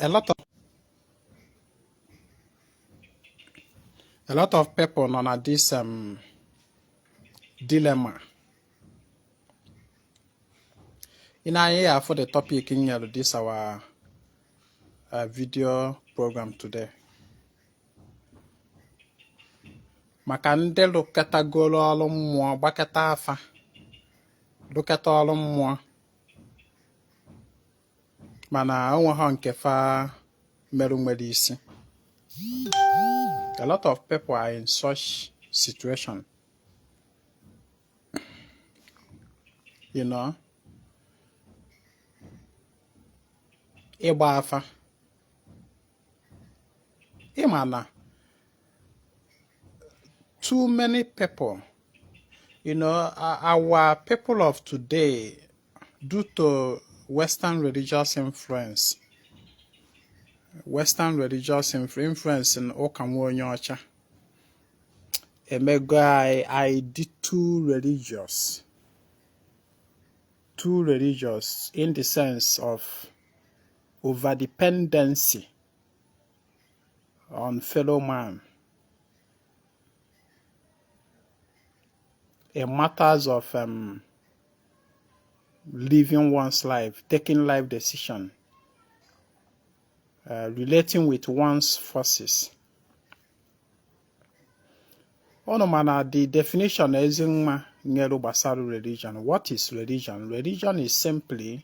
a lot of a lot of people nọ na this um, dilemma ị nee anya ị ya-afụ the topic m nyere this our uh, video program today maka ndị lụkọtagoro ọrụ mmụọ gbakọta afa lụkọta ọrụ mmụọ mana onweghọ nke fa merụ nwere isi a lot of people are in such situation you know ịgba afa ị ma na too many people you know our people of today due to western religious influence western religious influence in ụka nwa onye ọcha emego anyị dị too religious too religious in the sense of overdependency on fellow man in matters of um, living one's life, taking life decision, uh, relating with one's forces. Ọnụ mana the definition ezi nwa nyere gbasara religion. What is religion? Religion is simply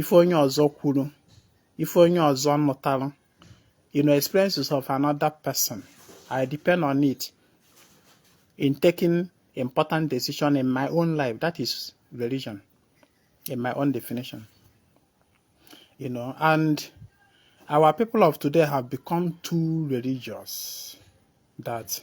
ife onye ọzọ kwuru ife onye ọzọ nụtara you know experiences of another person I depend on it in taking important decision in my own life that is religion in my own definition you know and our people of today have become too religious that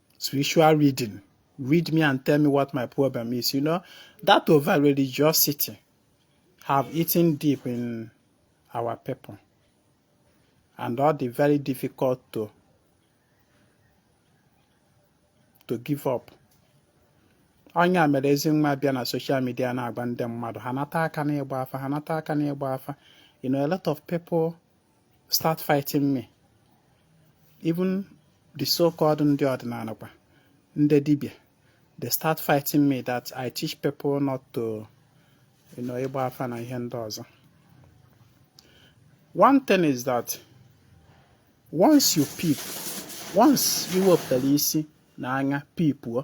spiritual reading read me and tell me what my problem is. You know, that over religiosity have eaten deep in our people. And ọ dị very difficult to to give up. ọ nya mere ezi nwa bịa na social media na-agwa ndị mmadụ ha nata aka n'ịgba afa ha nata aka n'ịgba afa you know a lot of people start fighting me even the so-called ndị ọdịnanị kwa ndị dibia they start fighting me that I teach people not to you know ịgba afa na ihe ndị ọzọ one thing is that once you peep once ị wepụtara isi na anya people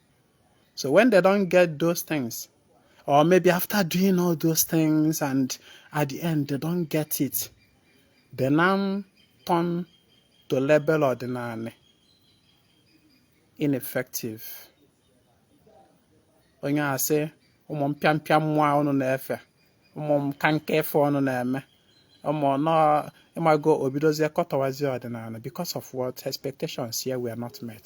So when they don't get those things, or maybe after doing all those things and at the end they don't get it, they now turn to label ọdịnanị ineffective. Onye a sị ụmụ mpịampịa mmụọ unu na-efe ụmụ nka nka ife unu na-eme you know ị mago o bidozie kọtọwazie ọdịnanị because of what expectations ya were not met.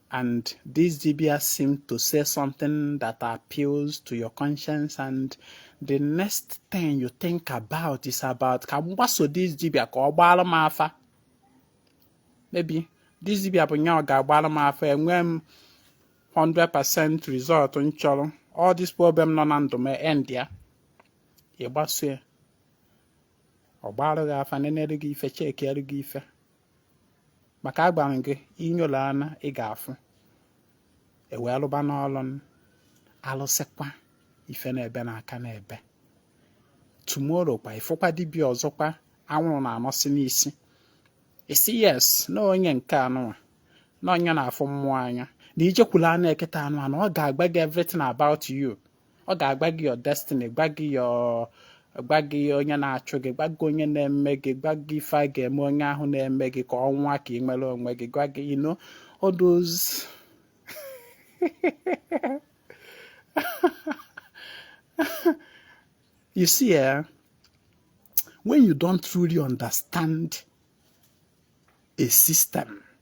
and this dibia seem to say something that appeals to your conscience and the next thing you think about is about ka m gbaso this dibia ka ọ gbaara m afa maybe this dibia bụ nya ga-agbara m afa enwe m 100% result m chọrọ all this problem nọ na ndụ m endịa ị gbaso ya ọ gbarụ gị afa nenere gị ife chekiere gị ife maka agwara m gị inyola anya ị ga-afụ ewee lụba n'ọlụ alụsịkwa ife na-ebe na aka na-ebe tomorrow kwa ịfụkwa dibịa ọzọkwa anwụrụ na-anọsị n'isi isi yes na onye nke anụnwa na onye na-afụ mmụọ anya na ijekwula anụ eketa anụnwa ọ ga-agwa gị everything about you ọ ga-agwa gị your destiny gwa gị onye na-achụ gị gwa gị onye na-eme gị gwa gị ife a ga-eme onye ahụ na-eme gị ka ọnwa ka ị nwere onwe gị gwa gị you know all those you see eh when you don't truly understand a system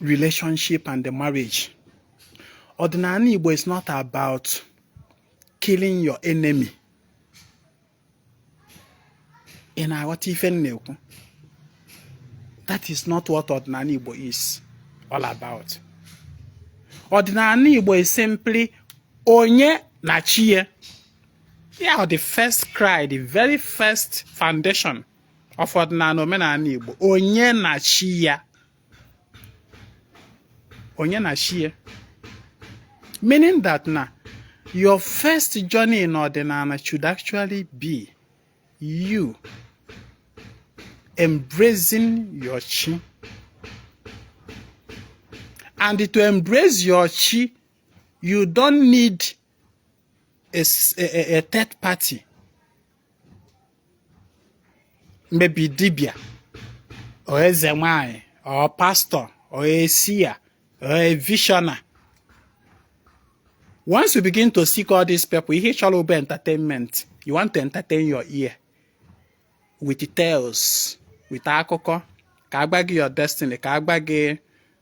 relationship and the marriage. Ordinary Igbo is not about killing your enemy. In our aghọta ife m That is not what ordinary Igbo is all about. Ordinary Igbo is simply onye na chi Yeah, the first cry, the very first foundation of ọdịnala omenala Igbo onye na chi ya onye na chi ya meaning that na your first journey in ọdịnala should actually be you embracing your chi and to embrace your chi you don't need a, a, a third party maybe dibịa or eze nwanyị or pastor or a seer or a visioner once you begin to seek all these people ihe ị chọrọ bụ entertainment you want to entertain your ear with tales with akụkọ ka a gwa gị your destiny ka a gwa gị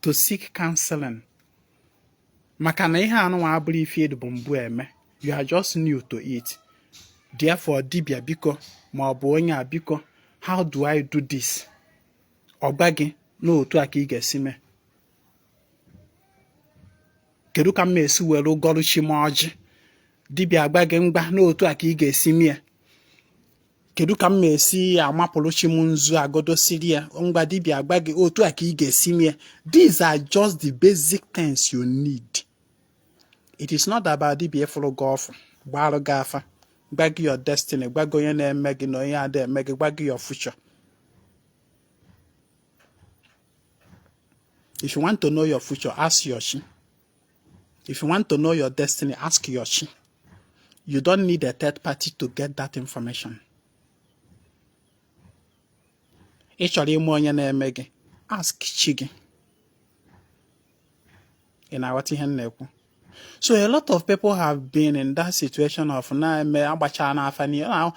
to seek counseling maka na ihe anụnwa abụrọ ife ị dịbu mbụ eme you are just new to it therefore dibia biko ma ọ bụ onye a biko how do I do this ọ gwa gị n'otu a ka ị ga-esi mee kedu ka m esi were gọrụ chi m ọjị dibịa agwa gị ngwa n'otu a ka ị ga-esi mie kedu ka m esi amapụrụ chi m nzu agodosiri ya ngwa dibia agwa gị otu a ka ị ga-esi mee these are just the basic things you need it is not about dibia ịfụrụ gị ọfụ gbarụ gị afa gwa gị your destiny gwa gị onye na-eme gị na onye ada eme gị gwa gị your future if you want to know your future ask your chi If you want to know your destiny, ask your chi. You don't need a third party to get that information. Ị chọrọ ịma onye na-eme gị, ask chi gị. Ị na-aghọta ihe m na-ekwu? So a lot of people have been in that situation of na-eme agbacha n'afa n'ihe. Now,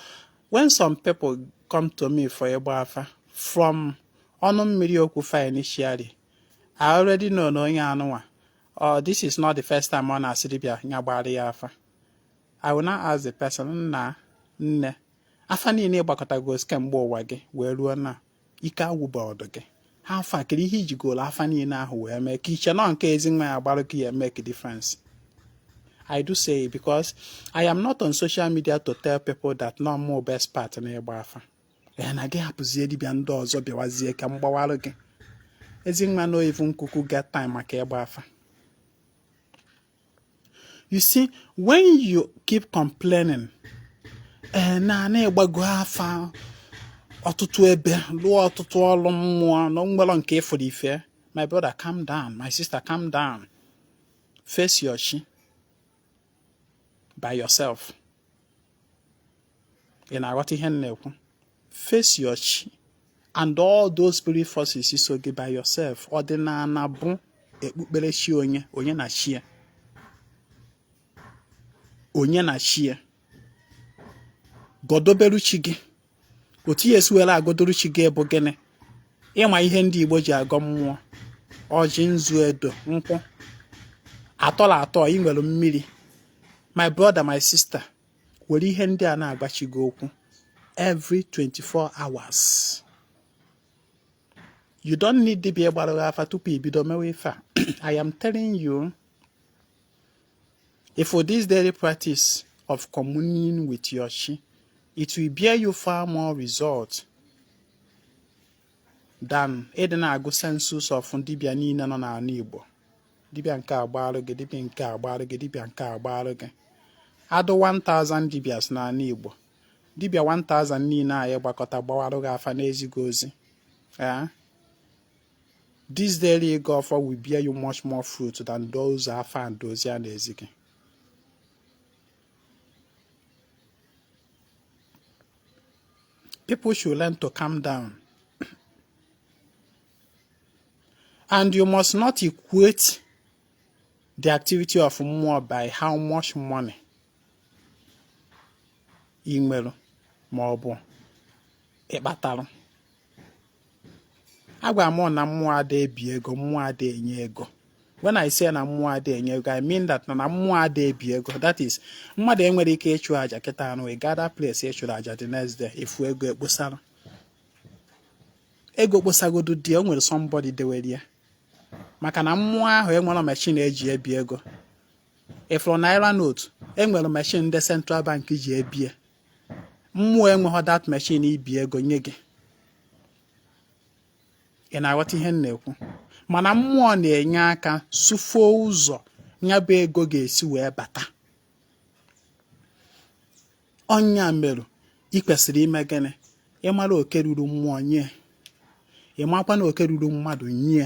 when some people come to me for ịgba afa from ọnụ mmiri okwu fa initially, I already know na onye anụnwa or oh, this is not the first time ọ na-asị dibịa ya gbara ya afa I will not ask the person nna nne afa niile ị gbakọtago kemgbe ụwa gị wee ruo na ike agwụba ọdụ gị how far kiri ihe i jigolu afa niile ahụ wee mee ka i chee nọ nke Ezinwa ya-agbara gị ya make difference I do say because I am not on social media to tell people that nọ mụ best part na ịgba afa ya na gị hapụzie dibịa ndị ọzọ bịawazie ka m gbawarụ gị Ezinwa no even kuku get time maka ịgba afa you see when you keep complaining ee eh, na ị gbago afa ọtụtụ ebe lụọ ọtụtụ ọrụ mmụọ na nwerọ nke ị fụrụ ife my brother calm down my sister calm down face your chi by yourself ị na-aghọta ihe m na-ekwu face your chi and all those spirit forces so gị by yourself ọdịnala bụ ekpukpere chi onye onye na chi ya onye na chi ya godoberu chi gị otu ya esiwela agodoru chi gị bụ gịnị ị ma ihe ndị Igbo ji agọ mmụọ ọjị nzu edo nkwụ atọla atọ ị nwere mmiri my brother my sister were ihe ndị a na-agwa chi gị okwu every 24 hours you don't need dibịa gbara gị afa tupu i bido mewe ife a i am telling you ị fụ this daily practice of communion with your chi it will bear you far more result dan ịdị na-agụ sensus of dibịa niile nọ n'ala Igbo dibịa nke agbaarụ gị dibịa nke agbaarụ gị dibịa nke agbaarụ gị adụ 1000 dibias n'ala Igbo dibịa 1000 niile anyị gbakọta gbawarụ gị afa n'ezighị ozi ee eh? this daily ego offer will bear you much more fruit than those afa and dozie na-ezi gị People should learn to calm down. And you must not equate the activity of mmụọ by how much money ị nwere ma ọ bụ ị kpatalụ agwara m na mmụọ ada ebi ego mmụọ ada enye ego when I say na mmụọ ada enye ego I mean that na mmụọ ada ebi ego that is mmadụ enwerọ ike ịchụ aja kịta anụ ị gada place ị chụrụ aja the next day ị fụ ego ekposara ego kposagodu dị o nwere somebody dewere ya maka na mmụọ ahụ enwerọ machine e ji ebi ego ị fụrụ naira note e nwere machine ndị central bank ji ebi ya mmụọ enweghị that machine ibi ego nye gị ị na-aghọta ihe m na-ekwu mana mmụọ na-enye aka sụfuo ụzọ ya bụ ego ga-esi wee bata ọ nya merụ ị kwesịrị ime gịnị ị mara oke ruru mmụọ nye ị makwanụ oke ruru mmadụ nye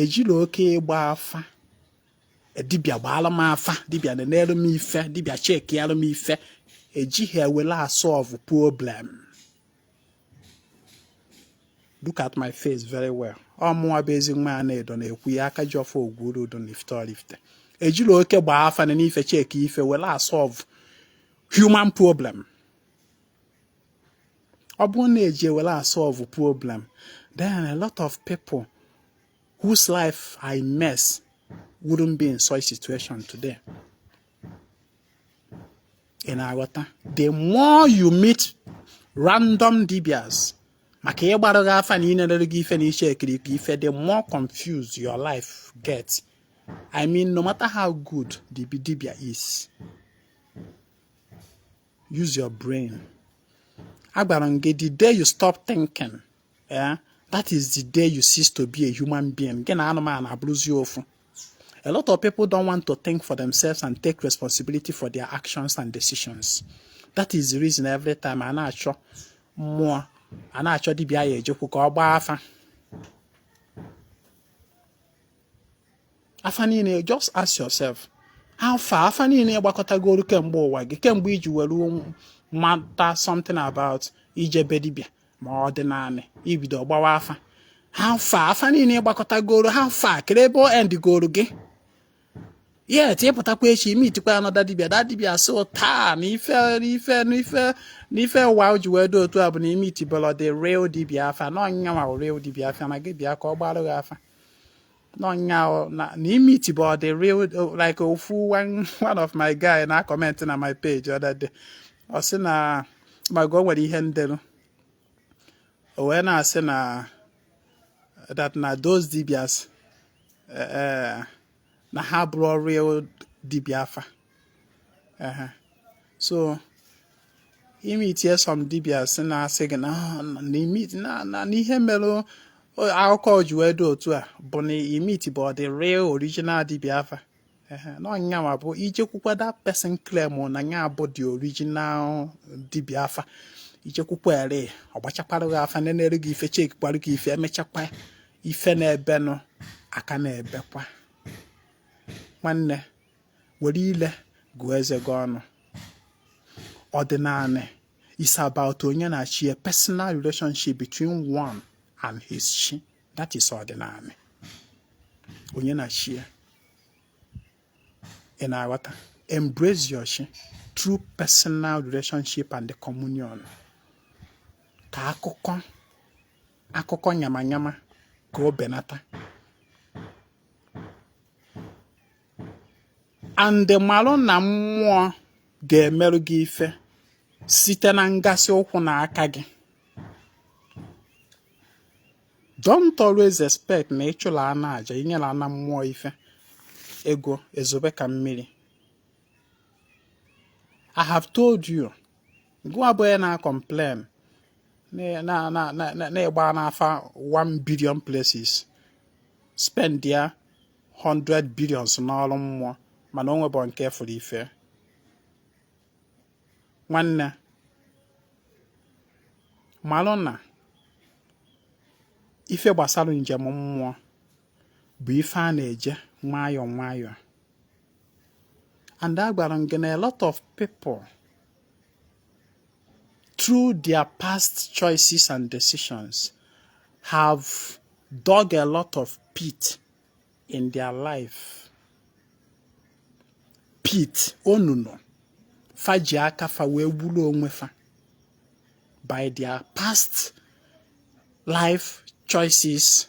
ejila oke ịgba afa e, dibịa gbaalụ m afa dibịa nenerụ m ife dibịa checkialụ m ife ejighị ewele asolve problem look at my face very well ọ mụnwa bụ ezinwa anaedo na-ekwu ya akajiọfọ ogwurudu na ifite ọraifite ejila oke gbaa afa nene ife check ife wele asolve human problem ọ bụrụ na eji ewere asolve problem then a lot of people whose life I mess wouldn't be in such situation today. ị na-aghọta the more you meet random dibias maka ịgbarụ gị afa na ịnelere gị ife na icheckiri gị ife the more confused your life get I mean no matter how good the dibia is use your brain agwara m gị the day you stop thinking eh, that is the day you cease to be a human being gị na anụmanụ abụrụzi ofu a lot of people don't want to think for themselves and take responsibility for their actions and decisions that is the reason every time a na-achọ mmụọ a na-achọ dibịa a ya-ejekwu ka ọ gbaa afa afa niile just ask yourself how far afa niile gbakọtagoro kemgbe ụwa gị kemgbe i ji were mata something about ije be dibịa ma ọ dị naanị i bido gbawa afa how far afa niile gbakọtagoro how far kere ebe o endigoro gị yet ị pụtakwa echi i meetikwa another dibia that dibia so taa na ife n'ife n'ife n'ife ụwa ji wee dị otu a bụ na i meetibehọ the real dibia afa na ọ nyanwa real dibia afa na gị bịa ka ọ gbarụ gị afa na ọ nya na i meetibehọ the real like ofu one of my guy na-acomment na my page other day ọ sị na mago nwere ihe m delu o wee na-asị na that na those dibias eh, eh, na ha abụrọ real dibia afa ehe so i meetie some dibias a na-asị gị na ihe mere akụkọ ji wee dị otu a bụ na i meetibehọ the real original dibia afa na ọ nyanwa bụ i jekwukwa that person claim na ya bụ the original dibia afa i jekwukwa ere ọ gbachakwara gị afa nenere gị ife checkikwara gị ife e mechakwa ife na-ebenụ a ka na-ebekwa nwanne were ile gụọ eze gị ọnụ ọdịnanị is about onye na chi a personal relationship between one and his chi that is ọdịnanị onye na chi ya ị na-aghọta embrace your chi through personal relationship and the communion ka akụkọ nyama nyama ka o benata and malụ na mmụọ ga-emerụ gị ife site na ngasị ụkwụ na aka gị don't always expect na ị chụla ana aja i nyela ana mmụọ ife ego ezobe ka mmiri I have told you gụwa bụ onye na-complain na ị gbaana afa 1 billion places spendia 100 billions n'ọrụ mmụọ mana o nwebu nke fụrụ ife nwanne malụ na ife gbasara njem mmụọ bụ ife a na-eje nwayọọ nwayọọ and agwara m gị na a lot of people through their past choices and decisions have dug a lot of pit in their life pit onunu fa ji aka fa wee gburu onwe fa by their past life choices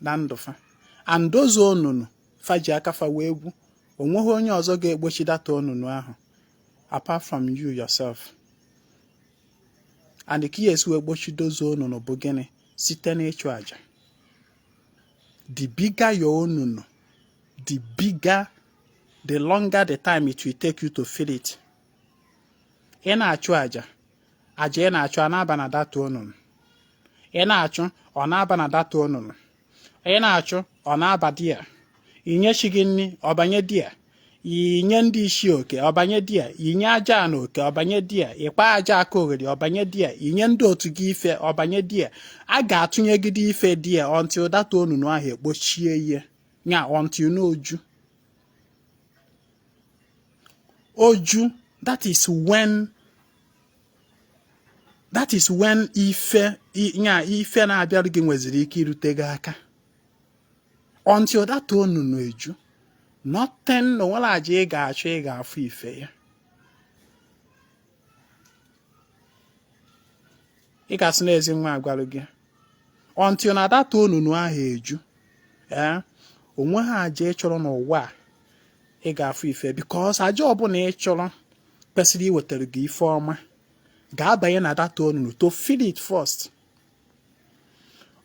na ndụ fa and those onunu fa ji aka fa wee gwu o nweghị onye ọzọ ga-ekpochi that onunu ahụ apart from you yourself and ka ya esi wee kpochi those onunu bụ gịnị site n'ịchụ aja the bigger your onunu the bigger the longer the time it will take you to fill it ị na-achụ aja aja ị na-achụ a na-aba na that onunu ị na-achụ ọ na-aba na that onunu ị na-achụ ọ na-aba there i nye chi gị nri ọ banye there i nye ndị ichie oke ọ banye there i nye Ajana oke ọ banye there ị kpa aja akaogheri ọ banye there i nye ndị otu gị ife ọ banye there a ga-atụnyegide ife there until that onunu ahụ ekpochie ihe nya until na o ju o ju that is when that is when ife nya ife na-abịara gị nweziri ike irute gị aka until that onunu eju nothing na o nwerọ aja ị ga-achụ ị ga-afụ ife ya ị ga-asị na ezi nwa agwalụ gị until na that onunu ahụ eju ee eh, o nweha aja ị chụrụ n'ụwa a ị ga-afụ ife because aja ọbụla ị chụrụ kwesịrị iwetara gị ife ọma ga-abanye na that onunu to fill it first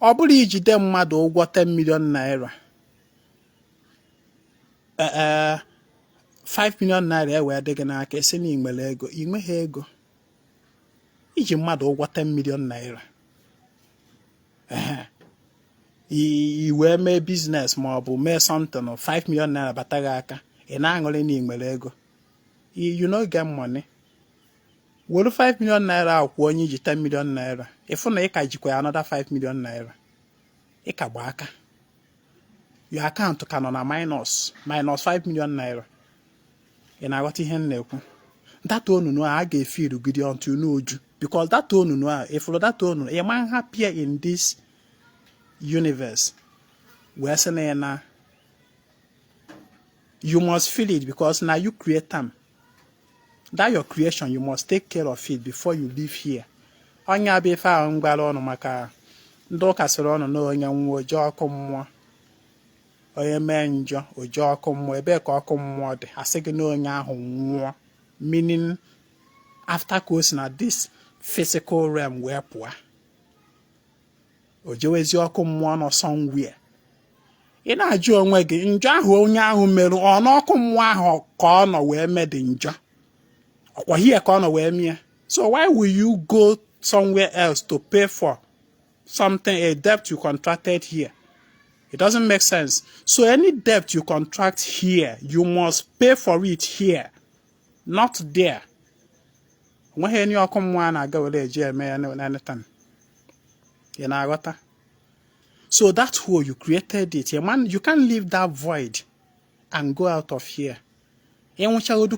ọ bụrụ i jide mmadụ ụgwọ 10 million naira 5 eh, eh, million naira ewee dị gị n'aka ị sị na ị nwere ego ị nweghị ego i ji mmadụ ụgwọ 10 million naira i wee mee business ma ọ bụ mee something 5 million naira bata gị aka ị na-aṅụrị na ị nwere ego you no get money were 5 million naira ahụ kwụọ onye i ji 10 million naira ị fụ na ị ka jikwa ya another 5 million naira ị ka gba aka your account ka nọ na minus minus 5 million naira ị na-aghọta ihe m na-ekwu that onunu a ga-efill irugide until n'o ju because that onunu a ị fụrụ that onunu ị ma na appear in this universe wee sị na ya na you must fill it because na you create am that your creation you must take care of it before you leave here ọ nya bụ ife ahụ m gwara ụnụ maka ndị ụka sịrị ụnụ na onye nwụọ o je ọkụ mmụọ onye mee njọ o je ọkụ mmụọ ebee ka ọkụ mmụọ dị a sị gị na onye ahụ nwụọ meaning after ka o si na this physical realm wee pụọ o jewezi ọkụ mmụọ nọ somewhere ị na-ajụ onwe gị njọ ahụ onye ahụ merụ ọ n'ọkụ mmụọ ahụ ka ọ nọ wee mee the njọ ọ kwa here ka ọ nọ wee mee ya so why will you go somewhere else to pay for something a debt you contracted here it doesn't make sense so any debt you contract here you must pay for it here not there o nweghị any ọkụ mmụọ a na-aga were eji eme ya n'eleta ị na-aghọta so that hole you created it a man you can't leave that void and go out of here ịnwụchagodu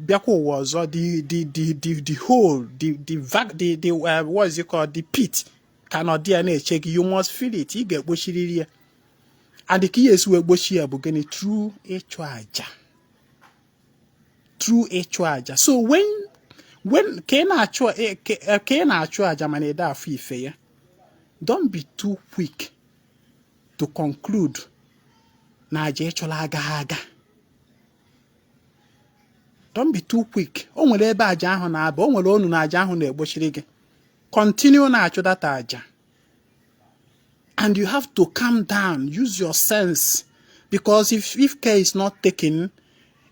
bịakwa ụwa ọzọ the the the the the hole the the vac the the uh, what is it called the pit ka nọ there na-eche gị you must fill it ị ga-egbochiriri ya and ka ị ya-esi wee gbochi ya bụ gịnị through ịchụ aja through ịchụ aja so when when ka ị na-achụ eh, eh, ka ị na-achụ aja mana ị da-afụ ife ya don't be too quick to conclude na aja ị chụlụ agaghị aga don't be too quick o nwere ebe aja ahụ na-aba o nwere onu na aja ahụ na-egbochiri gị continue na-achụ that aja and you have to calm down use your sense because if if care is not taken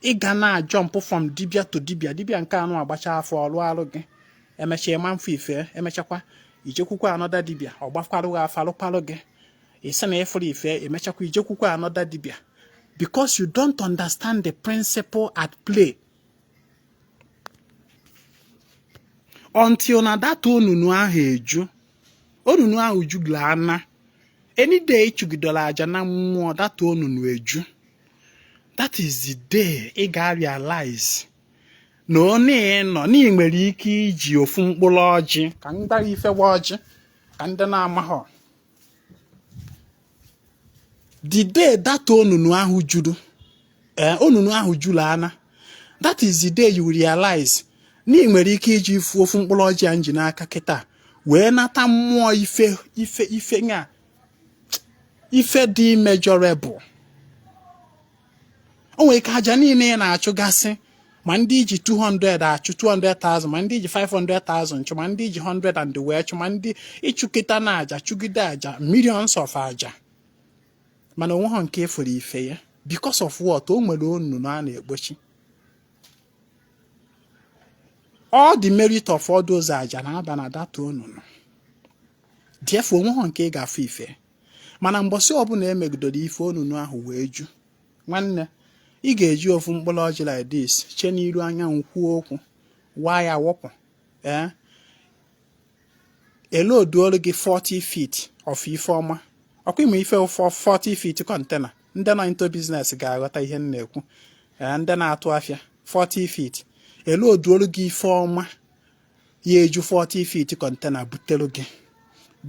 ị ga na jump from dibia to dibia dibia nke anụ agbacha afa ọ lụalụ gị e mecha ị ma afụ ife e mechakwa i jekwukwa another dibia ọ gbakwarụ gị afa alụkwalụ gị ị sị na ị fụrọ ife e mechakwa i jekwukwa another dibia because you don't understand the principle at play until na that onunu ahụ eju onunu ahụ jula ana any day ị chụgidere aja na mmụọ that onunu eju that is the day ị ga-realize na ọ na-enọ na ị nwere ike iji ofu mkpụrụ ọjị ka ndị ife waa ọjị ka ndị na-amaghọ the day that onunu ahụ juru eh, onunu ahụ jula ana that is the day you realize na ị nwere ike iji ifu ofu mkpụrụ ọjị a m ji n'aka kịta wee nata mmụọ ife dị immeasurable o nwere ike aja niile ị na-achụgasị ma ndị ị ji 200 achụ 200,000 ma ndị ị ji 500,000 chụ ma ndị ị ji 100 and wee chụ ma ndị ị chụkatara aja chụgide aja millions of aja mana o nwehọ nke e fụrụ ife ya because of what o nwere onunu a na-egbochi all the merit of all those aja na-aba na that onunu therefore o nwehọ nke ị ga-afụ ife mana mbọsị ọbụla i megidere ife onunu ahụ wee ju nwanne ị ga-eji ofu mkpụrụ ọjị like this chee n'iru anyanwụ kwuo okwu waa ya wọpụ ee eh? e loduolu gị 40 feet of ife ọma ọkwa ị ma ife 40 feet container ndị nọ into business ga-aghọta ihe m na-ekwu eh, ndị na-atụ afịa 40 feet e loduolu gị ife ọma ya eju 40 feet container butere gị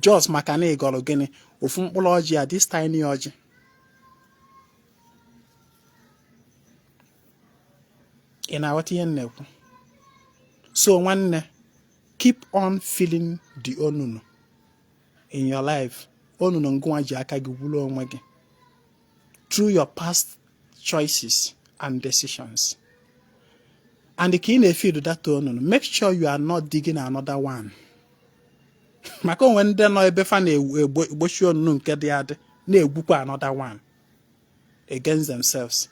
just maka na ị gọrọ gịnị ofu mkpụrụ ọjị a this tiny ọjị ị na-aghọta ihe m na-ekwu so nwanne keep on filling the onunu in your life onunu ngụnwa ji aka gị gwuru onwe gị through your past choices and decisions and ka ị na-efill that onunu make sure you are not digging another one maka o nwere ndị nọ ebe fa na-egbochi onunu nke dị adị na-egwukwa another one against themselves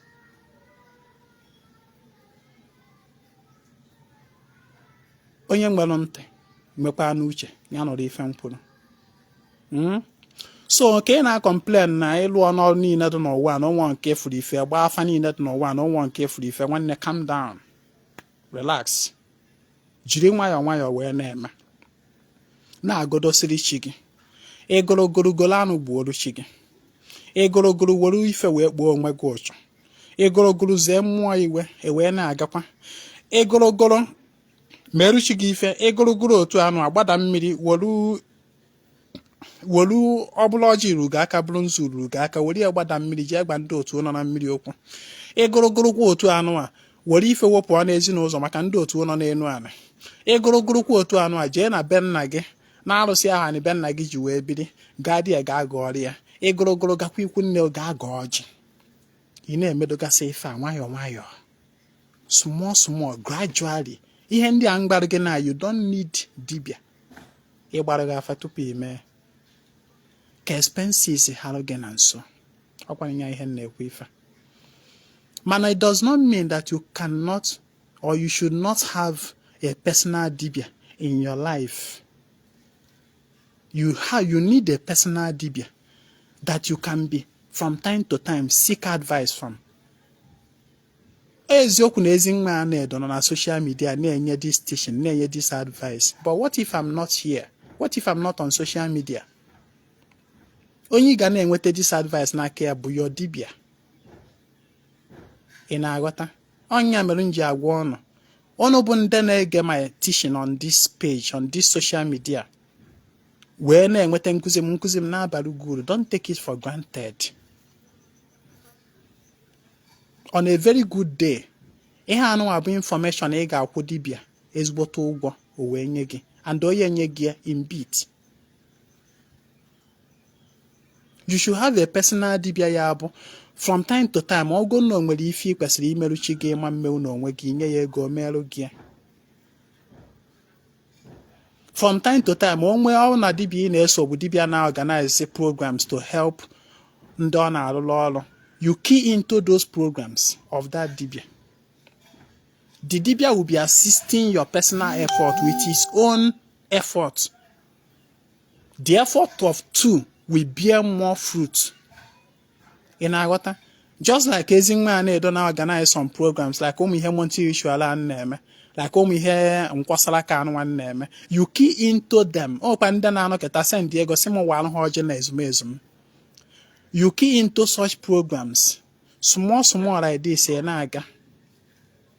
onye nwere ntị nwekwanụ uche ya nụrụ ife m kwuru hmm? so ka ị na-acomplain na ị lụọna ọrụ niile dị n'ụwa na o nwehọ nke fụrụ ife gbaa afa niile dị n'ụwa na o nwehọ nke fụrụ ife nwanne calm down relax jiri nwayọọ nwayọọ wee na-eme na-agọdosiri chi gị ị gọlọ gọlọ golo anụ gbuoro chi gị ị gọlọ gọlọ were ife wee kpuo onwe gị uchu egorogoro zee mmụọ iwe wee na-agakwa egorogoro meru chi gị ife egorogoro otu anụ a gbada mmiri wolu wolu ọ bụrụ ọjị ruru gị aka bụrụ nzu ruru gị aka were ya gbada mmiri jee gwa ndị otu nọ na mmiri okwu egorogoro kwa otu anụ a were ife wepụ ọ n'ezi n'ụzọ maka ndị otu nọ n'elu ala egorogoro kwa otu anụ a jee na be nna gị n'arụsị aha na be nna gị ji wee biri gaa di ya gaa gọọrọ ya egorogoro gakwa ikwu nne gaa gọọ ọjị ị na-emedogasị ife a nwayọọ nwayọọ small small gradually ihe ndị a m gwarụ gị na you don't need dibia ịgbarụ gị afa tupu i mee ka expenses harụ gị na nso ọkwanye ya ihe na-ekwu ife mana it does not mean that you cannot or you should not have a personal dibia in your life. you how you need a personal dibia that you can be from time to time seek advice from eziokwu na Ezinwa Anaedo nọ na social media na-enye this teaching na-enye this advice but what if I'm not here what if I'm not on social media onye ị ga na-enweta this advice n'aka ya bụ your dibia ị na-aghọta ọ nya mere m ji agwa unu unu bụ ndị na-ege my teaching on this page on this social media wee na-enweta nkụzi m nkụzi m na-abara gị uru don't take it for granted on a very good day ihe anụnwa bụ infọmeshọn ị ga-akwụ dibịa ezigbote ụgwọ o wee nye gị and onye nye gị ya in bit you should have a personal dibia ya bụ from time to time ọ bụ na o nwere ife ị kwesịrị imeru chi gị ị ma emenwu na onwe gị i nye ya ego merụ gị from time to time onwe ọ na dibia ị na-eso bụ dibia na-organize programs to help ndị ọ na-arụrụ ọrụ you key into those programs of that dibia the dibia will be assisting your personal effort with his own effort the effort of two will bear more fruit ị na-aghọta just like Ezinwa Anaedo na-organize some programs like ụmụ ihe monthly ritual a na-eme like ụmụ ihe nkwasara aka anụnwa m na-eme you key into them ọkwa ndị na-anọkịta send ego sị m walụ ha ọjị na ezumezu m you key into such programs small small like this ị na-aga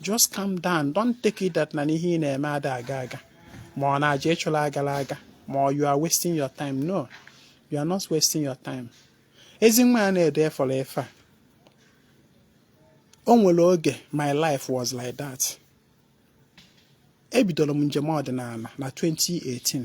just calm down don't take it that na ihe ị na-eme ada aga aga ma ọ na aja ị chụlụ agarọ aga ma ọ you are wasting your time no you are not wasting your time Ezinwa Anaedo fụrụ ife a o nwere oge my life was like that ebidoro m njem ọdịnala na 2018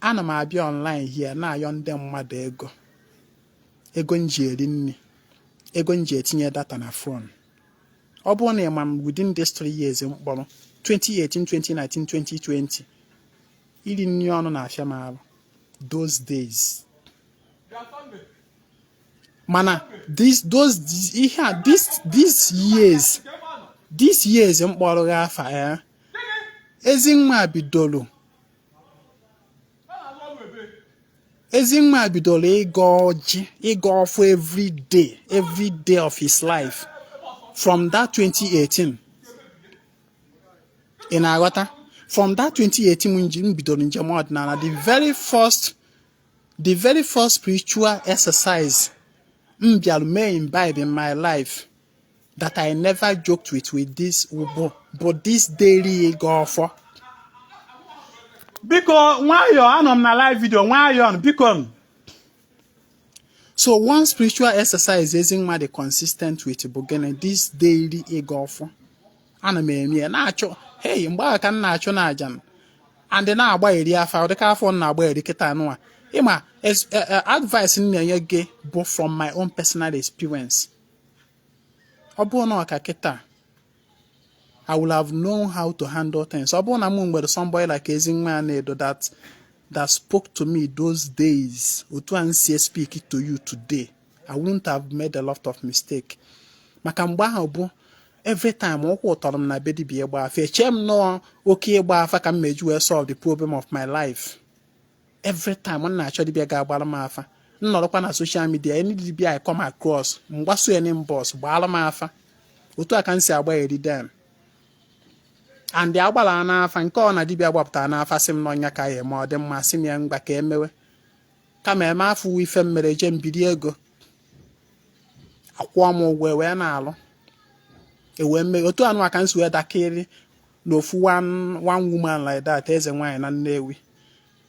Ana m abịa online here na-ayọ ndị mmadụ ego ego m ji eri nri ego m ji etinye data na phone ọ bụrụ na ị ma m within these three years m kpọrọ 2018 2019 2020 iri nri ọnụ na-afịa m arụ those days mana this those ihe a this this years this years m kpọrọ gị afa ya eh? Ezinwa bidoro Ezinwa bidoro ịgọ ọjị ịgọ ọfọ every day every day of his life from that 2018 ị na-aghọta from that 2018 m bidoro njem ọdịnala the very first the very first spiritual exercise m bịara mee imbibe in my life that I never joked with with this ugbo bụ this daily ịgọ ọfọ biko nwayọọ anọ m na live video nwayọọ biko m so one spiritual exercise Ezinwa dị consistent with bụ gịnị this daily ịgọ ọfọ ana m eme ya na-achọ hey mgbe ahụ ka m na-achụ na aja m and na-agbari afa ọ dị ka afa m na-agbari kịta nụwa ị ma eh, eh, advice m na-enye gị bụ from my own personal experience ọ bụrụ na ọ ka kịta I will have known how to handle things ọ bụrụ na m nwere somebody like Ezinwa Anaedo that that spoke to me those days otu a m si speak to you today I wouldn't have made a lot of mistake maka mgbe ahụ bụ every time ụkwụ tọrọ m na be dibia ịgba afa echee m na ọ oke ịgba afa ka m meji wee solve the problem of my life every time m na-achọ dibịa ga-agbara m afa m nọrọkwa na social media any dibịa I come across m gbaso ya n'inbox gbaara m afa otu a ka m si agbari dem and agbara n'afa nke ọ na dibịa gbapụtara n'afa sị m na ọ nya ka a ya-eme ọ dị mma sị m ya ngwa ka e mewe kama eme afọ uwe ife m mere ejee m biri ego akwụọ m ụgwọ e wee na-alụ e wee mee otu anụ ka m si wee dakịrị na ofu one one woman like that eze nwaanyị na Nnewi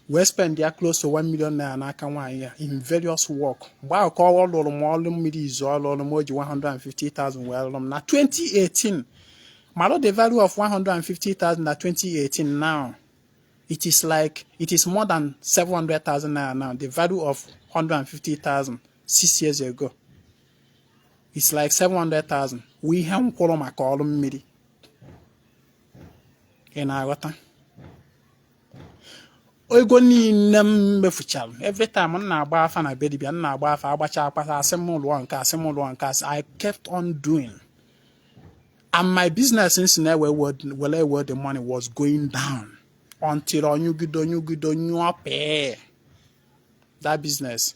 wee spendịa close to 1 million naira n'aka nwaanyị a in various work mgbe ahụ ka ọ lụrụ m ọrụ mmiri izizi ọ lụrụ m o ji 150,000 wee lụrụ m na 2018 mara the value of 150,000 na 2018 now it is like it is more than 700,000 naira now the value of 150,000 six years ago it's like 700,000 wụ ihe m kwụrụ maka ọrụ mmiri ị na-aghọta ego niile m mefuchara every time m na-agba afa na be dibia m na-agba afa agbacha akpata asị m lụọ nke a sị m lụọ nke a sị I kept on doing and my business m si na-ewe were ewe the money was going down until ọ nyụgide ọ nyụgide nyụọ pee that business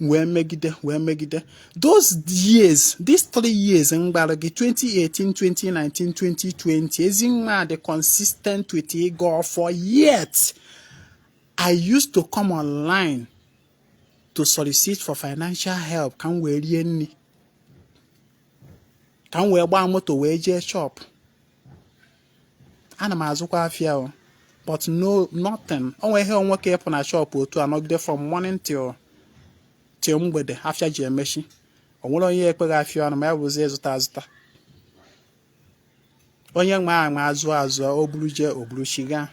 wee megide wee megide those years these three years m gwara gị 2018 2019 2020 Ezinwa dị consistent with ịgọ ọfọ yet i used to come online to solicit for financial help ka m wee rie nri ka m wee gbaa moto wee jee shop ana m azụkwa afịa o but no nothing onweghị o nwee ike ị pụ na shọpụ otu a nọgide from morning till till mgbede afịa ji emechi o nwere onye ekpe gị afịa ọnụ ma ya bụzi ịzụta azụta onye nwe a ma azụ azụ o buru jee o buruchighaa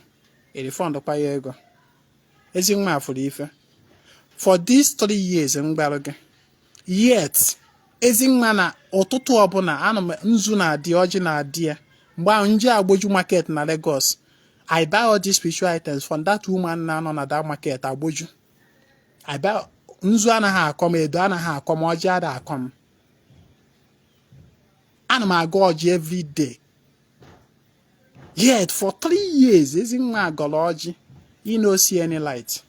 e refund kwa ya ego Ezinwa afụrụ ife for these three years m gwarụ gị yet Ezinwa na ụtụtụ ọbụla ana m nzu na-adị ọjị na-adị ya mgbe ahụ m je Agboju market na Lagos I buy all these spiritual items from that woman na-anọ na that market Agboju I buy nzu anaghị akọ m edo anaghị akọ m ọjị ada akọ m ana m agọ ọjị every day yet for three years Ezinwa agọrọ ọjị you no see any light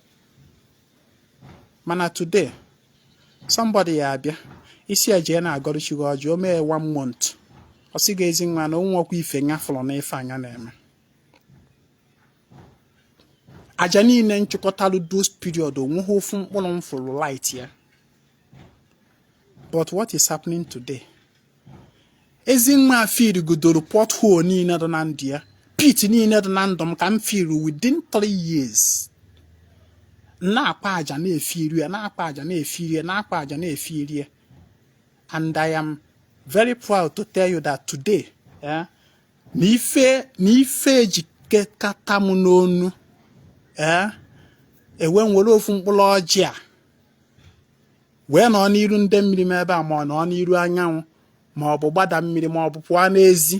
mana today somebody ya abịa ị sị ya jee na-agọrọ chi gị ọjị o mee one month ọ sị gị Ezinwa na o nwerọkwa ife nya fụrụ na ife a nya na-eme aja niile m chụkọtalụ those period onweghị ofu mkpụrụ m fụrụ light ya but what is happening today Ezinwa firigodoro pothole niile dị na ndụ ya pit niile dị na ndụ m ka m firi within 3 years na-akpa aja na-efiri ya na-akpa aja na-efiri ya na-akpa aja na-efiri ya and I am very proud to tell you that today eh, na ife na ife ejikọta m n'ọnụ ee eh, ewee m were ofu mkpụrụ ọjị a wee nọ n'iru ndị mmiri m ebe a ma ọ nọ n'iru anyanwụ ma ọ bụ gbada mmiri ma ọ bụ pụọ n'ezi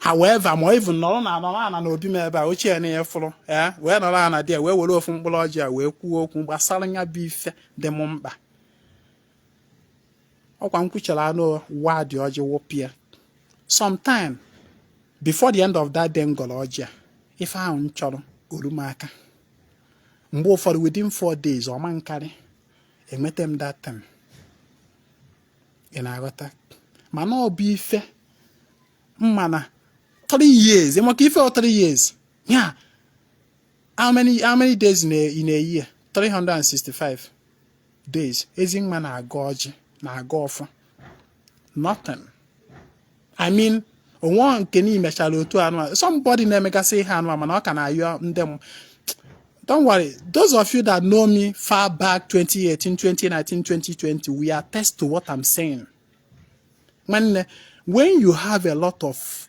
however ma even nọrọ na anọrọ ana na obi m ebe a ochie na ya fụrụ ee wee nọrọ ana dị ya wee were ofu mkpụrụ ọjị a wee kwuo okwu gbasara ya bụ ife dị m mkpa ọkwa m kwuchara anụ ụwa dị ọjị wụpịa sometime before the end of that day m gọrọ ọjị a ife ahụ m chọrọ o ru m aka mgbe ụfọdụ within four days ọ ma nkarị enweta m that time ị na-aghọta mana ọ bụ ife mma na three years ị makwa ife ọ three years yeah how many how many days in a, in a year 365 days ezi nwa na-agọ ọjị na-agọ ọfọ nothing I mean o nwe nke na imechara otu anụ somebody na-emegasị ihe anụ mana ọ ka na-ayọ ndị m don't worry those of you that know me far back 2018 2019 2020 will attest to what I'm saying nwanne when you have a lot of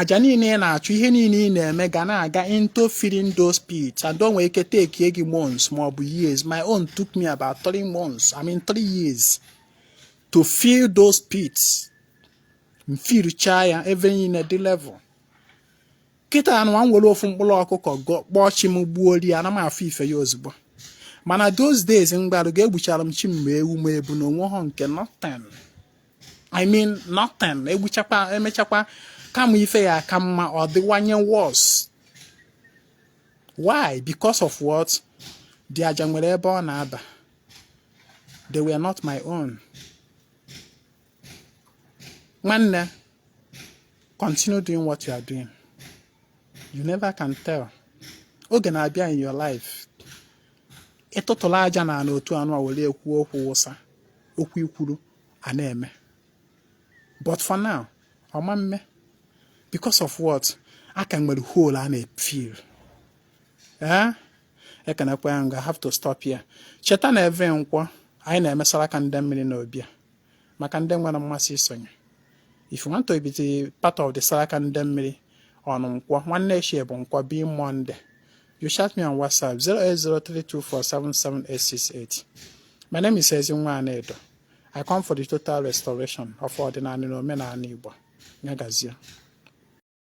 aja niile ị na-achụ ihe niile ị na-eme ga na-aga into filling those pits and o nwere ike take gị months ma ọ bụ years my own took me about three months I mean three years to fill those pits m fillchaa ya ebe niile dị level kịta anụ a m were ofu mkpụrụ ọkụkọ kpọọ chi m gbuo ri ana m afụ ife ya ozugbo mana those days mgbe ahụ ga-egbuchara m chi m ma ewu ma ebunu onwe ha nke nothing I mean nothing egbuchakwa emechakwa kama ife ya-aka mma ọ dịwanye worse why because of what the aja nwere ebe ọ na-aba they were not my own nwanne continue doing what you are doing you never can tell oge na-abịa in your life ị tụtụla aja na ana otu anụ a were kwuo okwu wụsa okwu i kwuru a na-eme but for now ọ ma mme because of what a ka nwere hole a na-efill ee eh? ekenekwa ya m ga have to stop here cheta na every nkwọ anyị na-eme saraka ndị mmiri na obi a maka ndị nwere mmasị isonye if you want to be the part of the Saraka ndị mmiri on Nkwọ nwanne echi bụ Nkwọ be Monday You chat me on WhatsApp 08032477868. My name is Ezinwa Anedo. I come for the total restoration of Ordinary Omenala Igbo. Nyagazie.